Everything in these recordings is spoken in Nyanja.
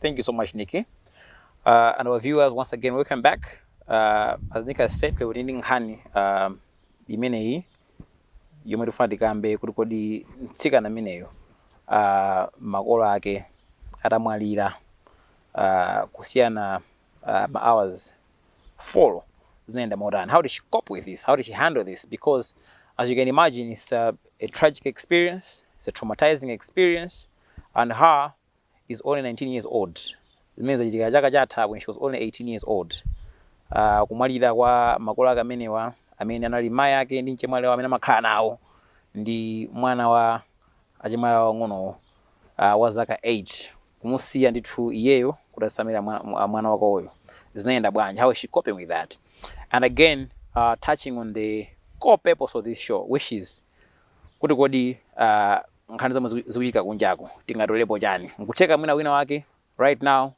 Thank you so much, Nikki. Uh, and our viewers, once again, welcome back. Uh, as Nikki has said, lero tili ndi nkhani uh, imeneyi yomwe tikufuna tikambe kuti kodi mtsikana ameneyo uh, makolo ake atamwalira uh, kusiyana uh, ma hours four zinaenda motani how did she cope with this how did she handle this because as you can imagine it's a, a tragic experience it's a traumatizing experience and her is only 19 years old zimene zachitika chaka chatha when she was only 18 years old uh, kumwalira kwa makolo ake amenewa amene anali mai ake ndi mchemwali awo amene amakhala nawo ndi mwana wa achemwali awo ang'onowo uh, wa zaka 8 kumusiya ndithu iyeyo kuti asamalire mwa, mwana wake uyo zinayenda bwanji how is she coping with that and again uh, touching on the core purpose of this show which is kuti kodi uh, nkhani zomwe zikuchitika kunjaku tingatolepo chani? Nkutheka mwina wina wake right now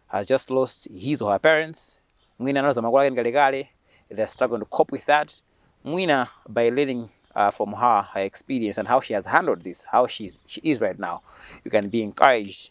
has just lost his or her parents, mwina analuza makolo ake ndi kalekale, they are struggling to cope with that, mwina by learning from her, her experience and how she has handled this, how she is right now, you can be encouraged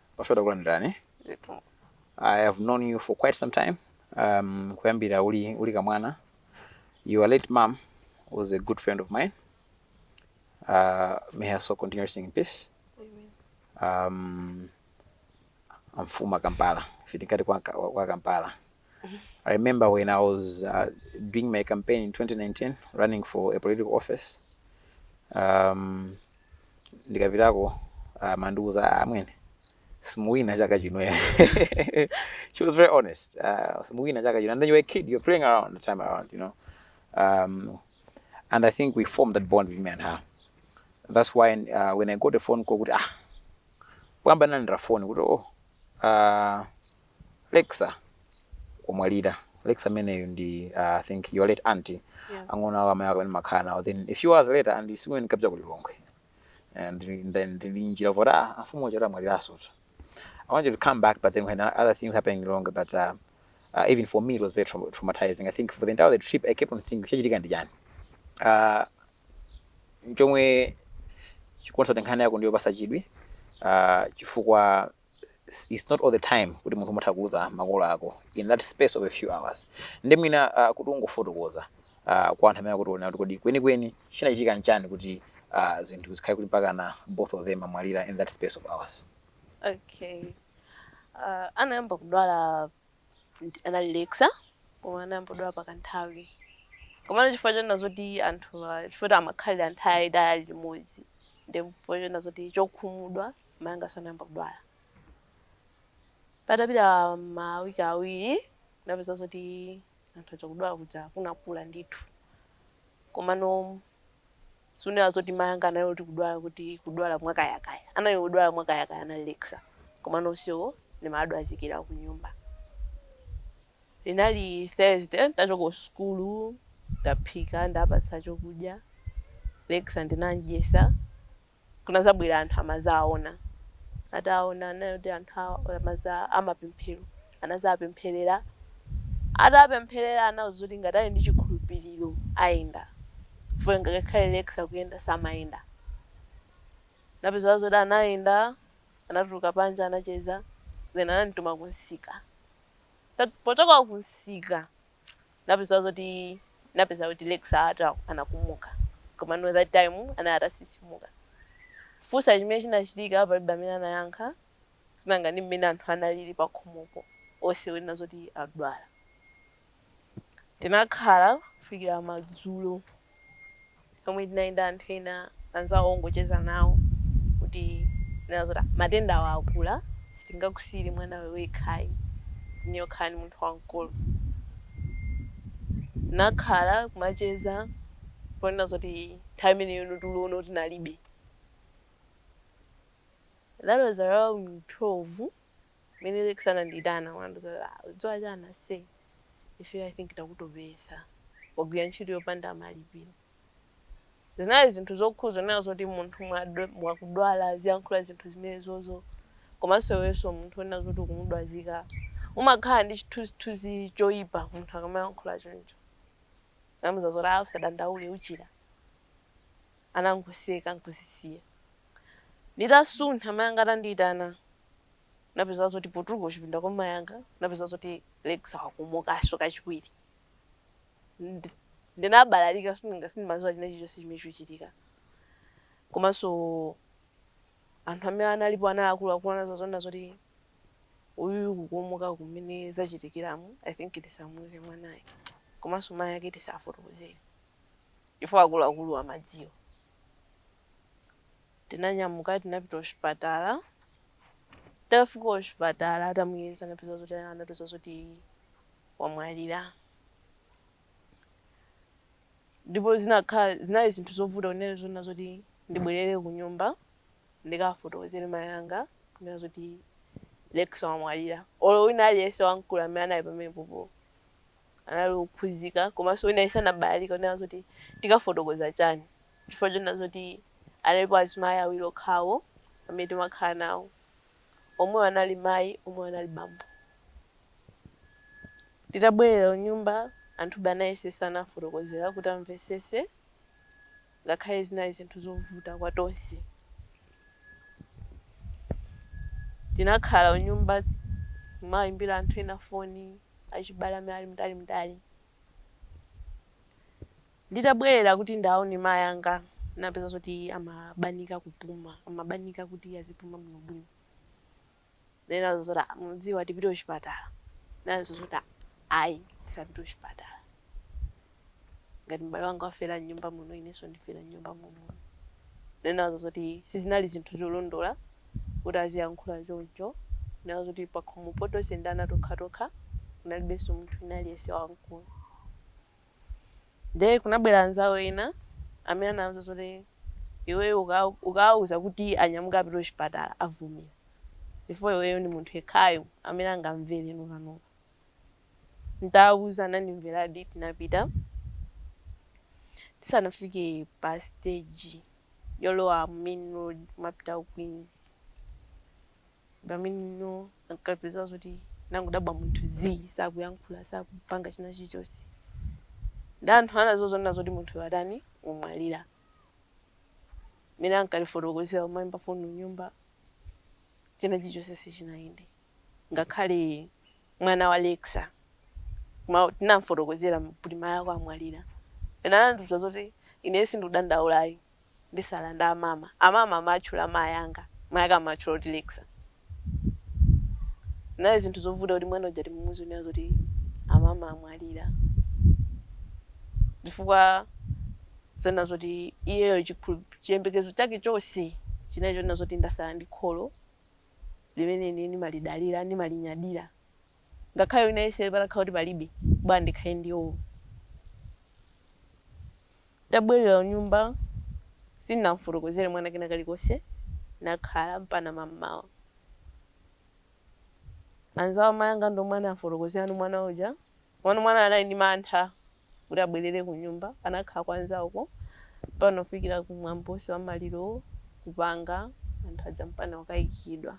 Pastor takulandirani. Ndipo I have known you for quite some time. Um, kuyambira uli, uli kamwana. Your late mom was a good friend of mine. Uh, may her soul continue resting in peace. Um, amfuma Kampala. Fitikati kwa, kwa Kampala. I remember when I was uh, doing my campaign in 2019, running for a political office. Um, ndikapitako amandiuza ah, amwene simuwina chaka chino ya." she was very honest uh, simuwina chaka chino and then you're a kid you're playing around the time around you know um, and i think we formed that bond with me and her that's why uh, when i got a phone call kuti ah kuyamba nanira phone kuti oh uh, Lexa wamwalira. Lexa ameneyu ndi uh, I think your late auntie yeah. ang'ono awo amayi ako amene makhala nawo then a few hours later and tsiku limene ndikupita ku Lilongwe and then ndili mnjira zoti ah amfumu uja amwaliraso I wanted to come back but then when other things happened in Lilongwe but uh, uh, even for me it was very tra traumatizing I think for the entire trip I kept on thinking chachitika ndi chani uh, chomwe chikuonesa kuti nkhani yako ndi yopasa chidwi uh, chifukwa it's not all the time kuti munthu amatha kuluza makolo ako in that space of a few hours ndi mwina uh, kuti ungofotokoza uh, kwa anthu amene akutionera kuti kodi kwenikweni chinachitika nchani kuti uh, zinthu zikhale kuti mpakana both of them amwalira in that space of hours okay uh, anayamba kudwala ndi- anali lexa koma anayamba kudwala pakanthawi komano chifukwa choona zoti anthu ah, chifukwa kuti amakhalira nthawi itali limodzi ndi chifukwa choona zoti chokhumudwa mai anganso anayamba kudwala. Patapita mawiki awiri ndinapeza zoti anthu aja kudwala kuja kunakula ndithu. Komano sunena zoti mai anga anali oti kudwala kuti kudwala mwakayakaya. Anali odwala mwakayakaya anali Lexa. Komano onsewo ndimawadwazikira ku nyumba. Linali Thursday ntachoka ku sukulu ndaphika ndawapatsa chokudya. Lexa ndinamdyesa. kunazabwera anthu amazaona ataona anena kuti anthu awa amaza amapemphero anazapempherera atapempherera anauza kuti ngati ali ndi chikhulupiriro ayenda chifukwa ngakhale lexa kuyenda samayenda napeza zoti anayenda anatuluka panja anacheza then anandituma kunsika Ta- pochoka kunsika napeza zoti napeza kuti Lexa ata- anakomoka komano that time anali atatsitsimuka kufunsa chimene chinachitika palibe amene anayankha sinanga ndi mmene anthu analili pakhomopo onse kunena zoti adwala tinakhala kufikira madzulo Pomwe tinali ndi anthu ena anzawo ongocheza nawo kuti kunena zoti ah, matendawa akula sitingakusiyire mwanawe wekha ayi, ndiye ukhala ndi munthu wamkulu. Tinakhala kumacheza ponena zoti nthawi imeneyono tulono tinalibe. That was around 12. Mene Lexa anandiitana wandiuza kuti ah udziwa chani ase ifeyo I think takutopesa wagwira ntchito yopanda malipiro. Zinali zinthu zokhudza zonena zoti munthu mwakudwala aziyankhula zinthu zimenezozo komanso iwenso munthu wonena zoti ukumudwazika umakhala ndi chithunzithunzi choipa munthu akamayankhula choncho. Ndinamuuza zoti ah usadandaule uchira. Anangoseka n'kuzisiya. Nditasuntha mayi anga atandiitana napeza zoti potuluka kuchipinda kwa mayi anga napeza zoti Lexa wakomokanso kachiwiri Ndi- ndinabalalika sindinga- sindimadziwa china chilichonse chimene chikuchitika komanso anthu amene analipo ana akuluakulu anazaona zoti uyu kukomoka kumene zachitikiramu i think tisamuuze mwanayo komanso mayi ake tisafotokozere chifukwa akuluakulu amadziwa Tinanyamuka tinapita kuchipatala, titafika kuchipatala atamuyeza anapeza zoti anapeza zoti wamwalira ndipo zinakhala zinali zinthu zovuta kunena zoona zoti ndibwerere kunyumba ndikafotokozere mayi anga kunena zoti Lexa wamwalira olo wina aliyense wamkulu amene anali pamenepopo anali okhuzika komanso wina aliyense anabalalika kunena zoti tikafotokoza chani Chifukwa chonena zoti analipo azimayi awiri okhawo amene timakhala nawo. Omwewo anali mayi, omwewo anali bambo. Titabwerera kunyumba, anthube anayesesa nawafotokozera kuti amvetsetse ngakhale zinali zinthu zovuta kwa tonse. Tinakhala kunyumba kumaimbira anthu ena foni, achibale amene ali mtalimtali. Nditabwerera kuti ndaone mayi anga ndinapeza zoti amabanika kupuma, amabanika kuti azipuma bwinobwino. Ndinanena zoti ah mukudziwa tipite kuchipatala. Ananena zoti ah ayi tisapite kuchipatala. Ngati m'bale wanga wafera m'nyumba muno inenso ndifera m'nyumba muno. Ndinaona zoti sizinali zinthu zolondola kuti aziyankhula choncho. Ndinaona zoti pakhomopo tonse ndi ana tokhatokha kunalibenso munthu wina aliyense wamkulu. Ndiye kunabwera anzawo ena amene anandiuza zoti iweyo uka- ukawauza kuti anyamuke apite kuchipatala avomera chifukwa iweyo ndi munthu yekhayo amene angamvere nokanoka. N'tawauza anandimveradi tinapita. Tisanafike pa siteji yolowa mu main road kumapita ku Queens, pamene ndinkapeza zoti ndinangodabwa munthu zii sakuyankhula sakupanga china chilichonse ndi anthu anadzanena zoti munthu watani wamwalira mene ankalifotokozera kumayimba foni kunyumba china chilichonse sichinayende ngakhale mwana wa lexa ma- tinamfotokozera kuti mai ako amwalira iye anandiuza zoti ineyo sindikudandaulayi nditsala ndi amama. Amama amatchula mayi anga, mayi ake amatchula kuti Lexa. Zinali zinthu zovuta kuti mwana uja timuuze kunena zoti amama amwalira. Chifukwa zonena zoti iyeyo chikhulup- chiyembekezo chake chonse chinali chonena zoti ndatsala ndi kholo limene ine ndimalidalira, ndimalinyadira. ngakhale wina aliyense patakhala kuti palibe, bora ndikhale ndi iwowo. Titabwerera kunyumba, sindinam'fotokozere mwana kena kalikonse, tinakhala mpana mam'mawa. Anzawo a mayi anga ndi omwe anam'fotokozerano mwana uja, komano mwana anali ndi mantha kuti abwerere kunyumba. Anakhala kwa anzawoko mpana kufikira mwambo wonse wa malirowo kupanga, anthu aja mpana kukayikidwa.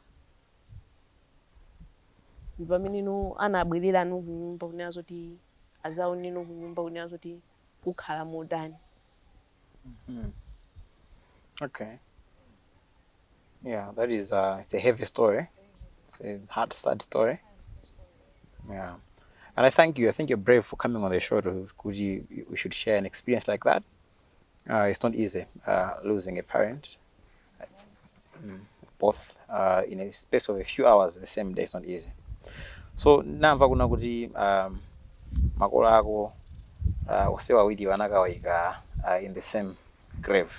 Ndipamene nu anabwelela nu kunyumba kunena zoti azaone nu kunyumba kunena zoti kukhala motani. Mm-hmm. Okay. Yeah, that is a, uh, it's a heavy story. It's a hard, sad story. Yeah. And I thank you. I think you're brave for coming on the show to, could you, you should share an experience like that. Uh, it's not easy uh, losing a parent. Mm, both uh, in a space of a few hours the same day is not easy. So ndamva kunena kuti um, makolo ako uh, onse awiriwo anakawayika uh, in the same grave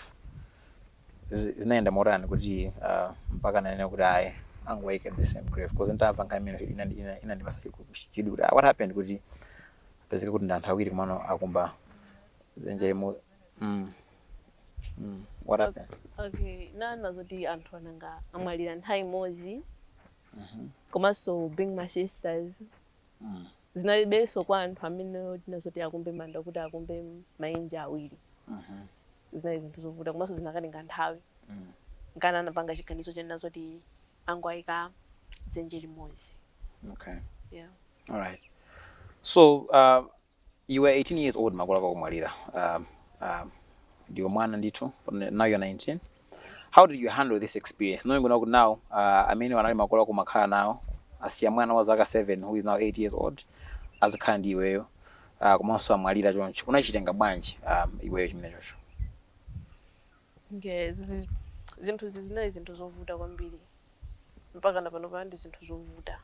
Zi- zinaenda motani kuti uh, mpaka ananena kuti ayi angowayika in the same grave because nditamva ndi zimene zinandipatsa chidwi what happened kuti zipezeke kuti ndi anthu awiri komano akumba zenje limu mm. mm. what happened okay nanga zoti anthu anangomwalira nthawi imodzi Mhm. komanso being my sisters Mm. zinalibenso kwa anthu amene tinati zoti akumbe manda kuti akumbe maenje awiri Mhm. zinali zinthu zovuta komanso zikanatenga nthawi Mm. nkana anapanga chiganizo chonena zoti angowayika dzenje limodzi okay yeah. All right. So uh, You were 18 years old makolo ako akumwalira um, um, ndiwe mwana ndithu pamene- now you're 19 how did you handle this experience knowing now kuti now uh, amene anali makolo ako umakhala nawo asiya mwana wa zaka 7 who is now 8 years old azikhala ndi iweyo uh, komanso amwalira choncho unachitenga bwanji um, iweyo chimenecho Okay zi- zinthu izi zinali zinthu zovuta kwambiri mpaka na pano ndi zinthu zovuta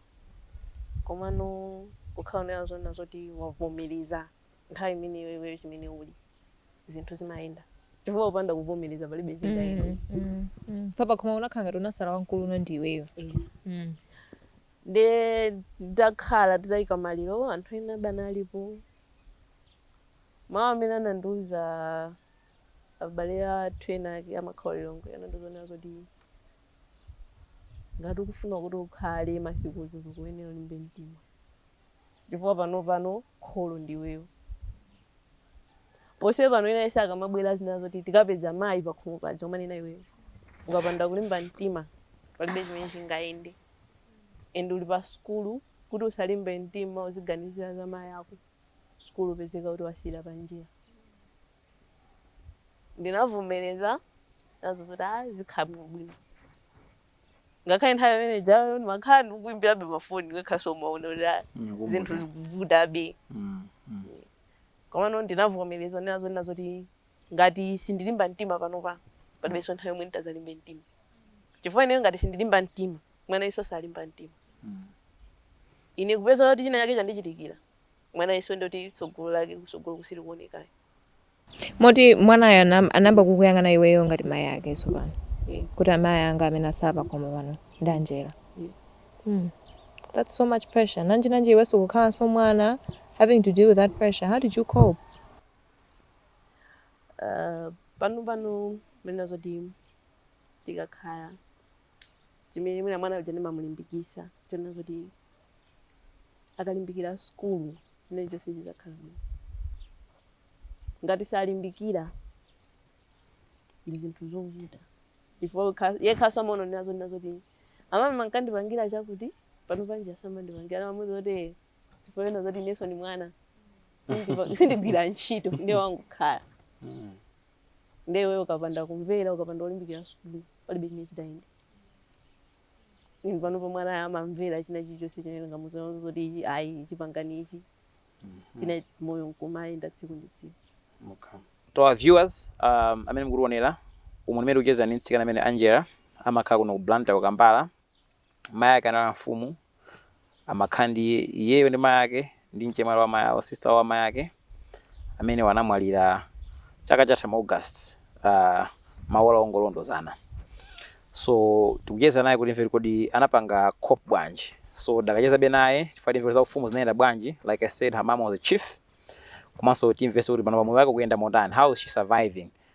komano kukhala unanena zoti wavomereza nthawi imeneyo iweyo chimene uli zinthu zimayenda chifukwa upanda kuvomereza palibe chingayende mm, mm, mm. paja koma unakhala ngati unasala wamkulu ndi iweyo yeah. mm. nde ndakhala titayika maliro anthu ena adalipo mawu amene anandiuza abale athu ena ake amakhala Lilongwe anandiuza zonena zoti ngati ukufuna kuti ukhale masiku ochuluka uyenera ulimbe mtima chifukwa pano pano kholo ndiweyo pose pano ena onse akamabwera azinena zoti tikapeza mayi pakhomo paja akunena iweyo ukapanda kulimba mtima palibe chimene chingayende and uli pa sukulu kuti usalimbe mtima uziganizira za mayi ako sukulu upezeka kuti wasiyira panjira ndinavomereza zonena zoti a zikhala bwinobwino ngakhale nthawi imene jayo ndimakhala ndikuimbirabe mafoni ngakhalenso umaona kuti a Ndinakumbuka. zinthu zikuvutabe Mm, mm. komano ndinavomereza zonena zoti ngati sindilimba mtima panopa palibenso nthawi yomwe nditazalimbe mtima chifukwa ineyo ngati sindilimba mtima mwanayunso salimba mtima Mm. ine kupezeka kuti china chake chandichitikira mwanayunso nde kuti tsogolo lake kusogolo kusirikuonekayo moti mwanayo anam- anayamba kukuyang'ana iweyo ngati mayi ake tsopano Yeah. kuti amayi anga amene asala pakhomo pano ndi Angella Yeah. Hmm. that's so much pressure nanji nanji iwenso kukhalanso mwana having to deal with that pressure how did you cope uh, pano pano monena zoti tikakhala zimene mwina mwana uja ndimamulimbikisa zonena zoti akalimbikira sukulu chimene chonse chidzakhala bwino ngati sakulimbikira ndi zinthu zovuta chifukwa yekhaso amaona nazo zoti amama ankandipangira chakuti pano nanji asamandipangira ndimamuuza zoti chifukwa kunena zoti ineso ndi mwana Sindipa- sindigwira ntchito ndiye wangokhala Mm. ndiye iweyo ukapanda kumvera ukapanda kulimbikira sukulu palibe chimene chitayenda Ndiye panopa mwana amamvera china chilichonse chimene ndingamuuze zoti ichi ayi ichi pangani ichi china moyo nkumayenda tsiku ndi tsiku okay. to our viewers um, amene mukutionera umu mmene tikucheza ndi mtsikana amene angela amakhala kuno ku blantyre ku kampala mayi ake anali mfumu amakhala ndi iyeyo ndi mai ake ndi mchemwali wa mai awo, sister wa mai ake, amenewo anamwalira chaka chatha mu August, uh, maola ongolondozana, so tikucheza naye kuti timve kodi anapanga cope bwanji, so tidakachezabe naye tifuna timve kuti za ufumu zinayenda bwanji, like I said her mum was a chief, komanso timvenso kuti panopa moyo wake ukuyenda motani, how is she surviving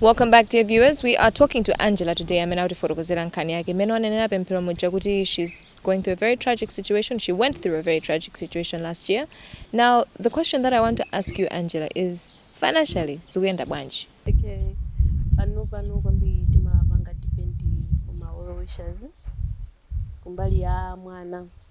Welcome back dear viewers. We are talking to Angela today amene akutifotokozera nkhani yake imene mmene wanenera Pemphero muja kuti she's going through a very tragic situation. She went through a very tragic situation last year. Now the question that I want to ask you Angela is financially zikuyenda bwanji? Okay. Panopa kwambiri timapanga depend on well wishers kumbali ya mwana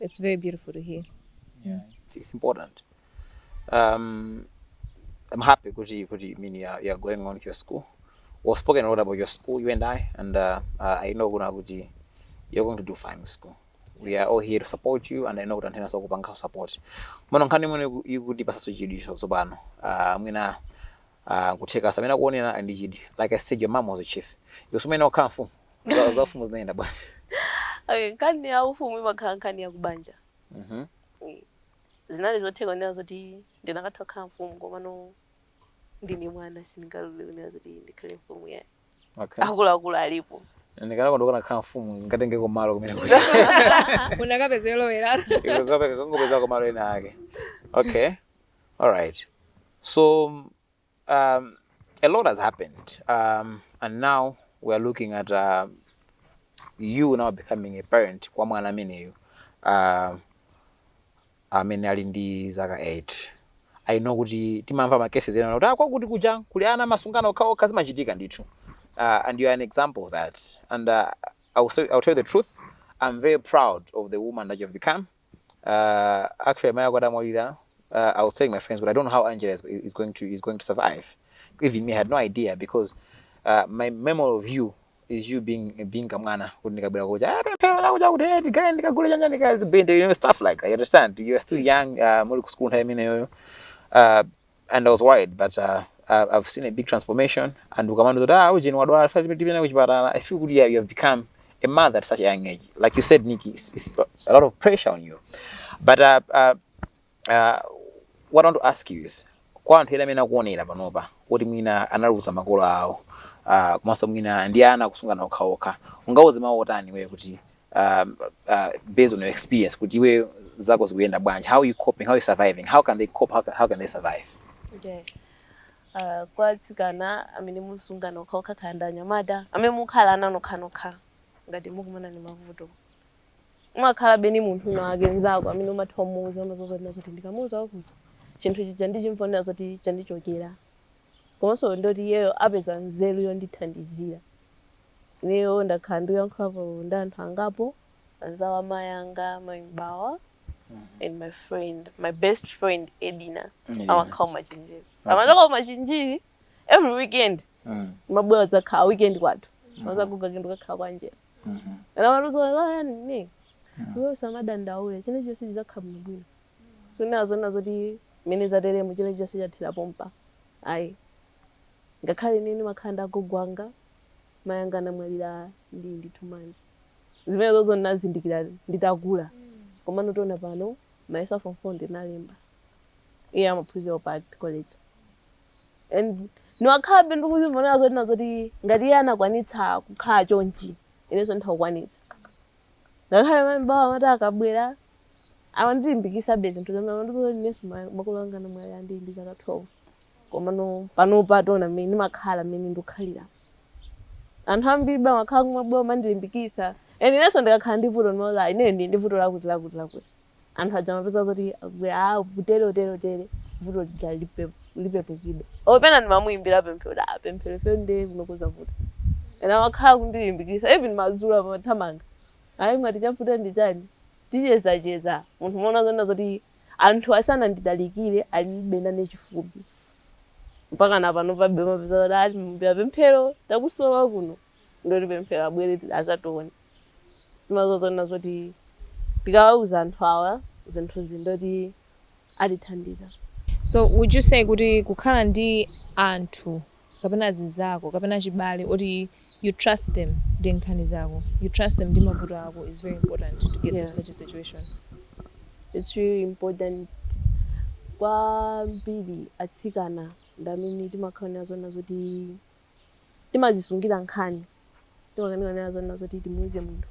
It's very beautiful to hear. Yeah, it's, it's important. Um, I'm happy kuti kuti mean you are, you are going on with your school. We've spoken a lot about your school, you and I, and uh, uh, I know kuna kuti you're going to do fine with school. We are all here to support you, and I know kuti anthu enaso kupanga support. Mano nkhani mwene ikuti pasaso chidwi tsopano. Uh, mwina uh, kutheka samene akuonera ndi chidwi. Like I said, your mom was a chief. Yosumene okhala mfumu. Za- za ufumu zinayenda bwanji Okay, nkhani ya ufumu imakhala nkhani ya kubanja Mhm. Eh, zinali zotheka kunena zoti ndinakatha kukhala mfumu komano ndine mwana sindingalole kunena zoti ndikhale mfumu yah okay akuluakulu alipo ndikanakonda ukanakhala mfumu ndingatengeko malo kumene kuti unakapeza yolowera ukanatha kungopezako malo ena ake okay alright so mm, Um, a lot has happened, um, and now we are looking at uh, you now becoming a parent kwa mwana ameneyo uh, amene ali ndi zaka 8 i know kuti timamva ma cases ena kuti ah, kwakuti kuja kuli ana amasungana okhaokha zimachitika ndithu uh, and you are an example of that and uh, I, will say, I will tell you the truth i'm very proud of the woman that you have become uh, actually amai ako adamwalira uh, i was telling my friends but i don't know how angela is, is, going, to, is going to survive even me I had no idea because uh, my memory of you is you being being kamwana kuti ndikabwera kucha ah, pemphera lakucha kuti eh, ndigale ndikagule chanja ndikazibende you know stuff like that you understand you are still young uh, muli ku school nthawi imeneyoyo uh, and I was worried but uh, I- I've seen a big transformation and ukamandiuza kuti ah ujeni wadwala tipite kuchipatala I feel kuti yeah, you have become a mother at such a young age like you said Nikki it's, it's a lot of pressure on you but uh, uh, uh, what I want to ask you is kwa anthu ena amene akuonera panopa kuti mwina analuza makolo awo uh, komanso mwina ndi ana akusungana okhaokha ungawauze mawu otani iweyo kuti uh, uh, based on your experience kuti iwe zako zikuyenda bwanji how you coping how are you surviving how can they cope how can, how can they survive okay. uh, kwa atsikana amene musunga nokha, okhala ndi anyamata amene mukukhala ana nokhanokha ngati mukumana ndi mavuto umakhalabe ndi munthu wina wake nzako amene umatha kumuuza umaziwa zoti nazoti ndikamuuza wakuti chinthu chija ndichimverera zoti chandichokera komanso ndoti iyeyo apeza nzeru yondithandizira. Ineyo ndakhala ndiyankhulapo ndi anthu angapo, anzawo amayi anga, mayi M'bawa and my friend, my best friend Edina, amakhala kumachinjiri. Amachoka kumachinjiri every weekend kumabwera kudzakhala weekend kwathu. Amauza agogo ake ndikukakhala kwa Angella. And amandiuza kuti, "Ah, yani, ne, iwe usamadandaule, chilichonse chidzakhala bwinobwino." Sunganene zonena zoti mmene zateremu china chilichonse chathera pompa ayi ngakhale ine ndimakhala ndi agogo anga mayi anga anamwalira ndili ndi two months zimenezozo ndinazindikira nditakula komano taona pano mayeso a form four ndinalemba iye amaphunzira ku Park college and ndimakhalabe ndikuzionera zoti nazoti ngati iye anakwanitsa kukhala chonchi inenso nditha kukwanitsa ngakhale mayi M'bawa amati akabwera amandilimbikitsabe zinthu zimene amandiuza kuti inenso ma- makolo anga anamwalira ndili ndi zaka 12 komano panopa taona mmene ndimakhala mmene ndikukhalira anthu ambiribe amakhala kumabwera amandilimbikitsa and inenso ndikakhala ndi vuto ndimawauza ineyo ndili ndi vuto lakuti lakuti lakuti anthu aja amapeza zoti akubwera ah kutere utere utere vuto lija lipe, lipepuke or pena ndimamuimbira Pemphero kuti ah Pemphero ife ndiye kuno kukuvuta and amakhala kundilimbikitsa even madzulo amathamanga ayi mwati chavuta ndi chani tichezacheza munthu umaona zonena zoti anthu asananditalikire alibe nane chifupi mpaka na panopabe mapeza kuti ndimuimbira Pemphero takusowa kuno ndoti Pemphero abwere azatione timaziwa zonena zoti tikawauza anthu awa zinthuzi ndoti atithandiza. So would you say kuti kukhala ndi anthu kapena azinzako kapena achibale oti you trust them ndi nkhani zako, you trust them ndi mavuto ako is very important to get through Yeah. such a situation? It's really important kwambiri atsikana ndi amene timakhala nazo nazoti timazisungira nkhani timakanika kunena zonena zoti timuuze munthu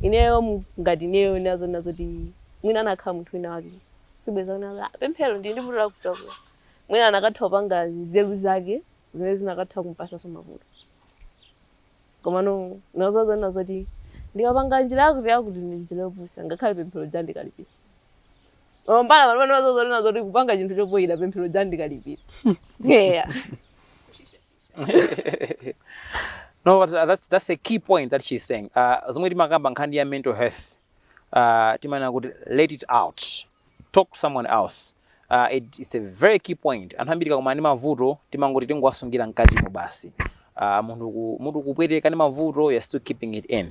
ineyo mu- ngati ineyo kunena zonena zoti mwina anakhala munthu wina wake sibweza kunena kuti, "Ah, Pemphero ndili ndi vuto lakuti lakuti mwina anakatha kupanga nzeru zake zimene zinakatha kumpasanso mavuto komano nazo zonena zoti ndikapanga njira yakuti yakuti ndi njira yopusa ngakhale Pemphero uja ndikalipira Mambala pano zoti kupanga chinthu chophoyira pemphero jandikalipira. Yeah. no, but uh, that's that's a key point that she's saying. Uh, zomwe timakamba nkhani ya mental health uh, timanena kuti let it out talk to someone else uh, it, it's a very key point anthu ambiri akakumana ndi mavuto timangoti tingowasungira mkatimo basi uh, munthu ku- munthu kupweteka ndi mavuto you're still keeping it in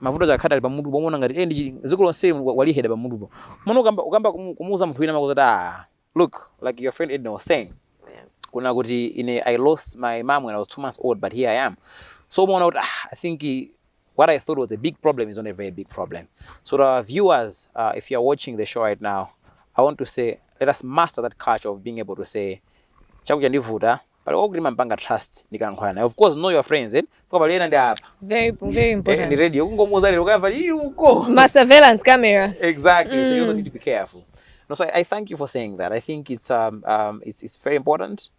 mavuto aja akhati ali pamutu pomwe ona ngati eh ndi chi- dziko lonse wa- waliheda pamutupo mona ukamba ukamba kumu- kumuuza munthu wina makuza ah look like your friend Edna was saying Yeah. kuna kuti ine i lost my mom when i was two months old but here i am so umaona kuti ah, i think eh, what i thought was a big problem is not a very big problem so to our viewers uh, if you are watching the show right now i want to say let us master that culture of being able to say chakudya ndivuta pali kwakuti timampanga trust ndikankhwala naye of course know your friends eh fuka pali ena ndi apa very very eh, important ndi radio kungomuza lero kaya pali uko ma surveillance camera exactly mm. so you also mm. need to be careful no so I, I thank you for saying that i think it's um, um it's it's very important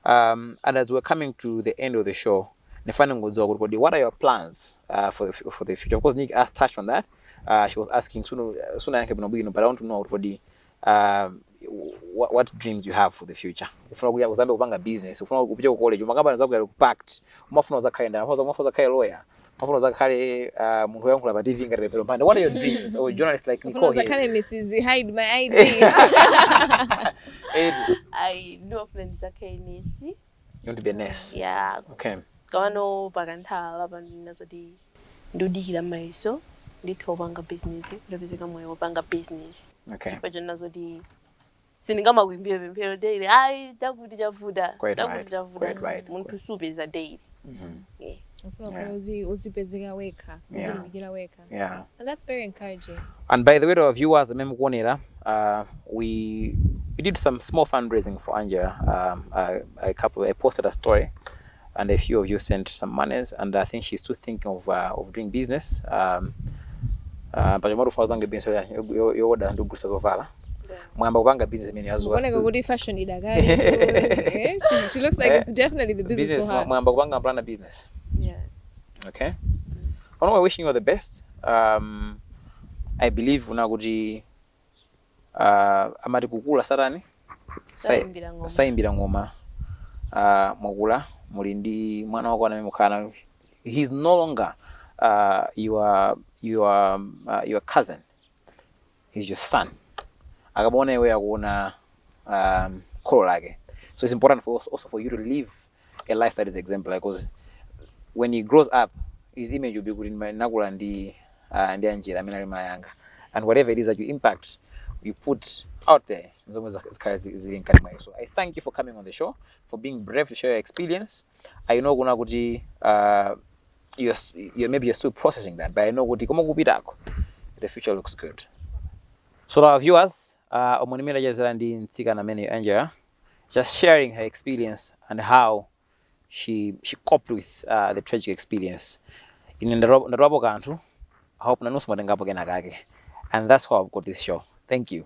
um and as we're coming to the end of the show nifane ngodziwa kuti kodi what are your plans uh, for the, for the future of course Nick asked touched on that uh, she was asking soon soon I can be but I want to know what kodi uh, what, what dreams you have for the future ufuna kuyamba uzayambe kupanga business ufuna kupita ku college umakambana ndi anzako ya pact umafuna uzakhale ndani umafuna umafuna uzakhale lawyer umafuna uzakhale uh, munthu woyankhula pa TV ngati Pemphero Mphande what are your dreams or journalist like Nicole here uzakhale Mrs hide my ID I do plan to take NEC. You want to be a nurse? ya Okay. komano pakanthawi apa ponena zoti ndikudikira mayeso nditha kupanga bizinesi utapezeka mwayi wopanga bizinesi Okay. chifukwa chonena zoti sindingamakuimbire pemphero daily ayi chakuti chavuta Quite chakuti right, chavuta quite right, munthu quite- sapeza daily Mhm. Yeah. ufuna Yeah. ukhale uzi- uzipezeka wekha Yeah. uzilimbikira wekha yeah and that's very encouraging and by the way to our viewers amene mukuonera uh, we we did some small fundraising for angela um, I, I, couple, I posted a story and a few of you sent some monies and i think she's still thinking of, uh, of doing business um, uh, but yomwe tufuna kupanga business yowoda ndi kugulisa zovala mwayamba kupanga business imene yazuwaoneka kuti fashion idakali she looks like it's definitely the business, business for her mwayamba kupanga plan a business yeah Okay. Mm. Pano we're wishing you all the best. Um, I believe una kuti uh, amati kukula satani saimbira ng'oma saimbira ng'oma uh, mwakula muli ndi mwana wako amene mukhala naye he's no longer uh, your, your, uh, your cousin he's your son akamaona iweyo akuona um, kholo lake so it's important for us also for you to live a life that is exemplary because when he grows up his image will be kuti ndima- nakula ndi uh, ndi Angella amene ali mayanga and whatever it is that you impact you put out there zomwe zak- zikhale zi- zili mkati mwake so i thank you for coming on the show for being brave to share your experience i know kunena kuti uh, you're, you're maybe you're still processing that, but I know kuti koma kupitako, the future looks good. So to our viewers, uh, omunimira jazira ndi mtsikana amene Angela, just sharing her experience and how she she coped with uh, the tragic experience. Ine ndaro- ndaropo kanthu, I hope nanunso mwatengapo kena kake. And that's how I've got this show. Thank you.